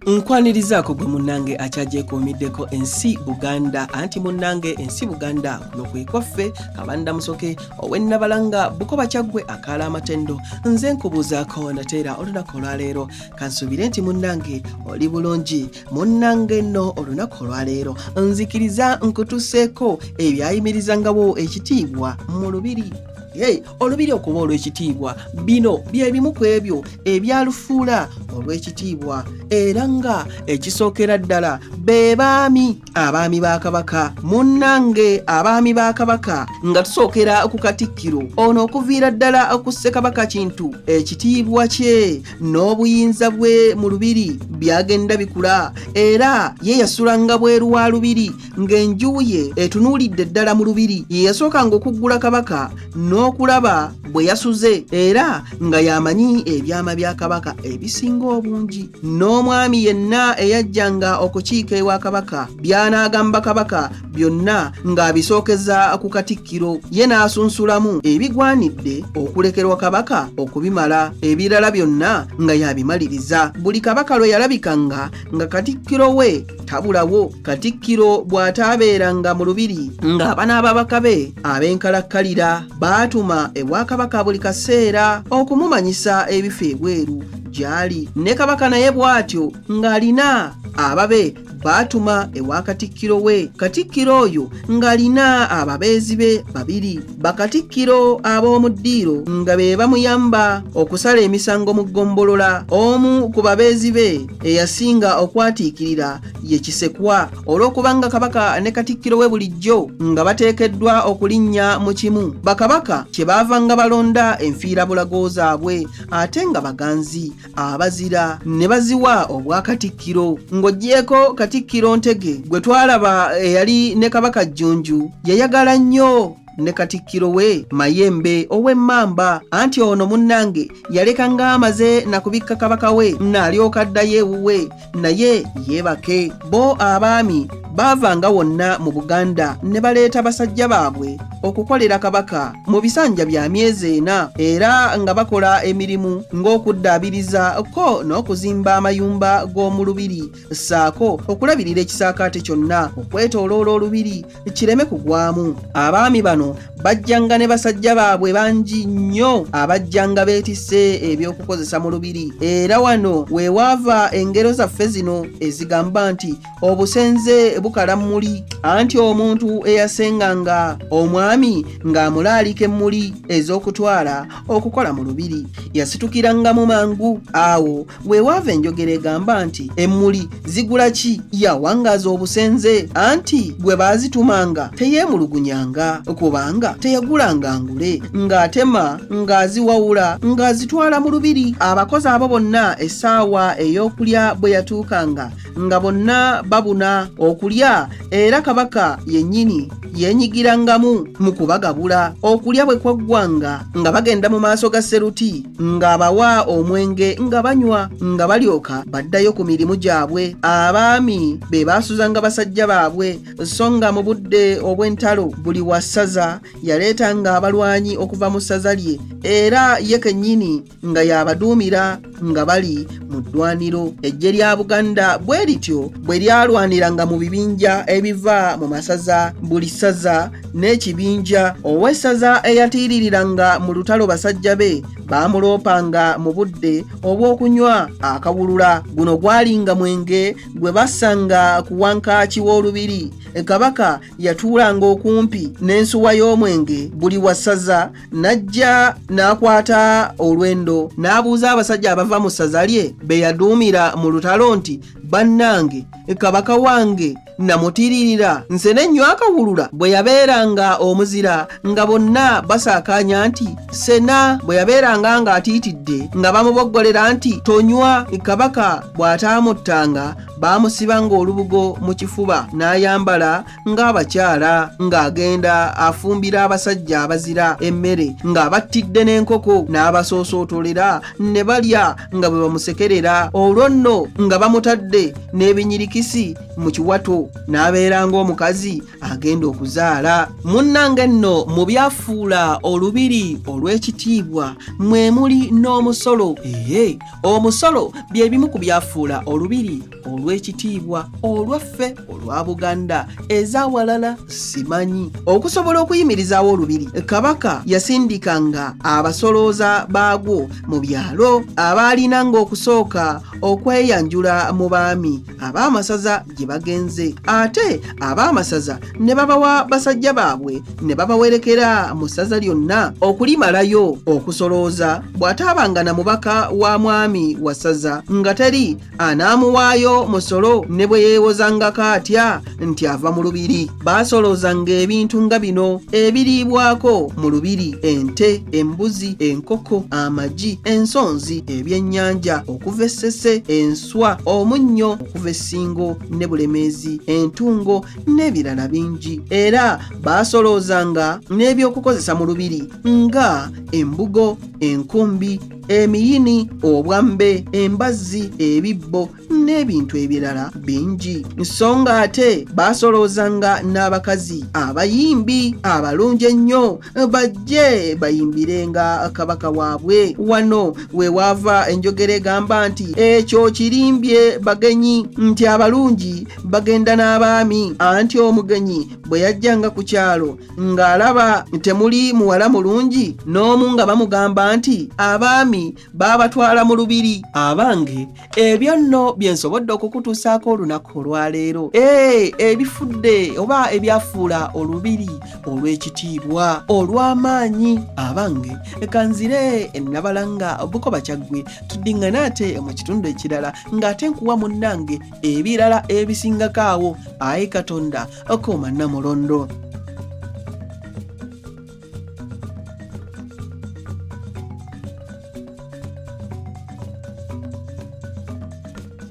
nkwanirizaako gwe munnange akyagyekuumiddeko ensi buganda anti munnange ensi buganda kuno kwe kwaffe kabanda musoke owennabalanga bukoba kyaggwe akaala amatendo nze nkubuuzaako nateera olunaku olwaleero kansuubire nti munnange oli bulungi munnange nno olunaku olwaleero nzikiriza nkutuseeko ebyayimirizangawo ekitiibwa mu lubiri Hey, olubiri okuba olw'ekitiibwa bino bye bimu ku ebyo ebyalufuula olw'ekitiibwa era nga ekisookera ddala be baami abaami ba kabaka munnange abaami ba kabaka nga tusookera ku katikkiro ono okuviira ddala ku ssekabaka kintu ekitiibwa kye n'obuyinza bwe mu lubiri byagenda bikula era ye yasulanga bweru wa lubiri ng'enju ye etunuulidde ddala mu lubiri ye yasookanga okuggula kabaka n'okulaba bwe yasuze era nga y'amanyi ebyama bya kabaka ebisinga obungi n'omwami yenna eyajjanga okukiika ewa kabaka by'anaagamba kabaka byonna ng'abisookeza ku katikkiro ye n'asunsulamu ebigwanidde okulekerwa kabaka okubimala ebirala byonna nga yabimaliriza buli kabaka lwe yalabikanga nga katikkiro we tabulawo katikkiro bw'ataabeeranga mu lubiri ng'abana ababaka be ab'enkalakkalira baatuma ewakabaka buli kaseera okumumanyisa ebifa ebweru gy'ali ne kabaka naye bw'atyo ng'alina ababe baatuma ewa katikkiro we katikkiro oyo ng'alina ababeezi be babiri bakatikkiro ab'omu ddiiro nga be bamuyamba okusala emisango mu ggombolola omu ku babeezi be eyasinga okwatiikirira ye kisekwa olw'okubanga kabaka ne katikkiro we bulijjo nga bateekeddwa okulinnya mu kimu bakabaka kye baavanga balonda enfiirabulago zaabwe ate nga baganzi abazira ne baziwa obwakatikkiro ng'oggyeeko katikkiro ntege gwe twalaba eyali ne kabaka jjunju yayagala nnyo ne katikkiro we mayembe ow'emmamba anti ono munnange yaleka ng'amaze na kubikka kabaka we naalyoka addayo ewuwe naye yeebake bo abaami baavanga wonna mu buganda ne baleeta basajja baabwe okukolera kabaka mu bisanja bya myezi ena era nga bakola emirimu ng'okuddaabiriza ko n'okuzimba amayumba g'omu lubiri ssaako okulabirira ekisaakaate kyonna okwetooloola olubiri kireme kugwamu abaami bano bajjanga ne basajja baabwe bangi nnyo abajjanga beetise eby'okukozesa mu lubiri era wano we waava engero zaffe zino ezigamba nti obusenze bukala mmuli anti omuntu eyasenganga omwami ng'amulaalika emmuli ez'okutwala okukola mu lubiri yasitukirangamu mangu awo wewaava enjogera egamba nti emmuli zigula ki yawangaaza obusenze anti gwe baazitumanga teyeemulugunyanga kubanga teyagulanga ngule ng'atema ng'aziwawula ng'azitwala mu lubiri abakozi abo bonna essaawa ey'okulya bwe yatuukanga nga bonna babuna okulya era kabaka yennyini yenyigirangamu mu kubagabula okulya bwe kwaggwanga nga bagenda mu maaso ga seruti ng'abawa omwenge nga banywa nga balyoka baddayo ku mirimu gyabwe abaami be baasuzanga basajja baabwe so nga mu budde obw'entalo buli wa ssaza yaleetanga abalwanyi okuva mu ssaza lye era ye kennyini nga yabaduumira nga bali mu ddwaniro eggye lya buganda bwe lityo bwe lyalwaniranga mu bibinja ebiva mu masaza buli ssaza n'ekibinja ow'essaza eyatiiririranga mu lutalo basajja be baamuloopanga mu budde obw'okunywa akawulula guno gwalinga mwenge gwe bassanga ku wankaaki w'olubiri kabaka yatuulanga okumpi n'ensuwa y'omwenge buli wassaza n'ajja n'akwata olwendo n'abuuza abasajja abava mu ssaza lye be yaduumira mu lutalo nti bannange kabaka wange namutiririra nse n'ennywa akawulula bwe yabeeranga omuzira nga bonna basaakaanya nti sena bwe yabeeranga ng'atiitidde nga bamuboggolera nti tonywa kabaka bw'ataamuttanga baamusiba ng'olubugo mu kifuba n'ayambala ng'abakyala ng'agenda afumbira abasajja abazira emmere ng'abattidde n'enkoko n'abasoosootolera ne balya nga bwe bamusekerera olwo nno nga bamutadde n'ebinyirikisi mu kiwato n'abeera ng'omukazi agenda okuzaala munnange nno mu byafuula olubiri olw'ekitiibwa mwe muli n'omusolo ee omusolo bye bimu ku byafuula olubiri olw'ekitiibwa olwaffe olwa buganda ez'awalala simanyi okusobola okuyimirizaawo olubiri kabaka yasindikanga abasolooza baagwo mu byalo abaalina ng'okusooka okweyanjula mu baami ab'amasaza gye bagenze ate ab'amasaza ne babawa basajja baabwe ne babawerekera mu ssaza lyonna okulimalayo okusolooza bw'ataabanga na mubaka wa mwami wasaza nga teri anaamuwaayo musolo ne bwe yeewozangako atya nti ava mu lubiri baasoloozanga ebintu nga bino ebiriibwako mu lubiri ente embuzi enkoko amagi ensonzi ebyennyanja okuva essese enswa omunnyo okuva essingo ne bulemeezi entungo n'ebirala bingi era baasoloozanga n'ebyokukozesa mu lubiri nga embugo enkumbi emiyini obwambe embazzi ebibbo n'ebintu ebirala bingi so nga ate baasoloozanga n'abakazi abayimbi abalungi ennyo bajje bayimbirenga kabaka waabwe wano we waava enjogera egamba nti ekyo kirimbye bagenyi nti abalungi bagenda n'abaami anti omugenyi bwe yajjanga ku kyalo ng'alaba temuli muwala mulungi n'omu nga bamugamba nti abaami baabatwala mu lubiri abange ebyo nno bye nsobodde okukutuusaako olunaku olwaleero ee ebifudde oba ebyafuula olubiri olw'ekitiibwa olw'amaanyi abange kanzire nabalanga buko bakyaggwe tuddiŋŋane ate mu kitundu ekirala ng'ate nkuwa munnange ebirala ebisingako awo ayi katonda Akoma Namulondo.